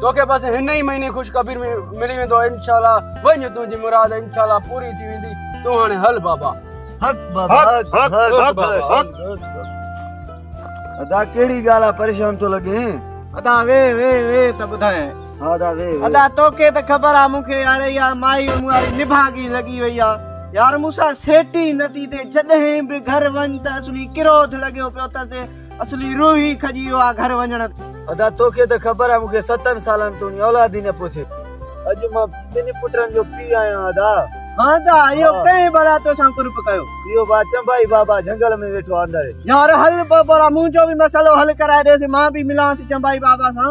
توکي بس هن ئي مهيني خوشخبري ۾ ملي ويندو انشاء الله وڃ تنهنجي مراد انشاء الله پوري ٿي ويندي تون هاڻي هل بابا حق بابا حق حق حق حق ادا ڪهڙي ڳالهه آ پريشان ٿو لڳين ادا وي وي وي ته ٻڌاين ها ادا وي وي ادا توکي ته خبر آ مونکي يار يا مائي مون واري نڀاڳي لڳي وئي آ يار مون سان سيٽ ئي نٿي ٿئي جڏهن به گهر وڃ ته اصلي ڪروڌ لڳيو پيو اٿس اصلي روح ئي کڄي ويو آ گهر وڃڻ تي. ادا توکي ته خبر آ مون کي ستن سالن توڻي اولاد ئي نه پوسي. اڄ مان ٻن پٽن جو پيء آهيان ادا. ها ادا اهو ڪنهن ڀلا توسان ڪرپ ڪيو. اهو با چنبائي بابا جهنگل ۾ ويٺو آ اندر. يار هل بابا منهنجو به مسئلو حل ڪرائي ڏيس مان به ملانس چنبائي بابا سان.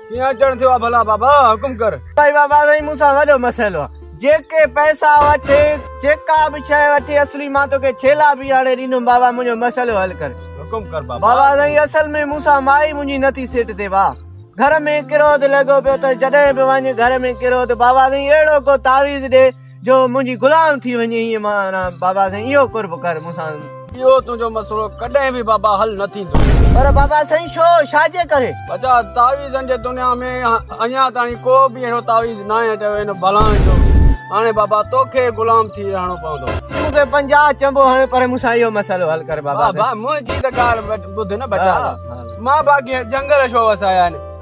ڪيئن اچڻ ٿيو آ ڀلا بابا حڪم ڪر. سائين بابا سائين مون سان وڏو مسئلو آ جيڪي پئسا وٺي جيڪا به شئي وٺي اصلي مان توکي ڇيلا به آڻي ڏيندم بابا منهنجو مسئلو حل ڪر. حڪم ڪر بابا. بابا سائين اصل ۾ مون سان مائي منهنجي نه ٿي سيٽ ٿئي بابا گهر ۾ ڪروڌ لڳو پيو اٿس جڏهن به وڃ گهر ۾ ڪروڌ بابا سائين اهڙو ڪو تعويذ ڏي جو منهنجي غلام ٿي وڃي ائين مان رهان بابا سائين اهو قرب ڪر مون سان اهو تنهنجو مسئلو ڪڏهن به بابا حل نه ٿيندو پر بابا سائين ڇو ڇا جي ڪري بچا تعويذن جي دنيا ۾ اڃان تائين ڪو به اهڙو تعويذ ناهي چيو هن ڀلائن جو هاڻي بابا توکي غلام ٿي رهڻو پوندو تون کي پنجاهه چئبو هاڻي پر مون سان اهو مسئلو حل ڪر بابا منهنجي ته ڳالهه ٻڌ نه بچا مان باقي جنگل ڇو وسايا آهن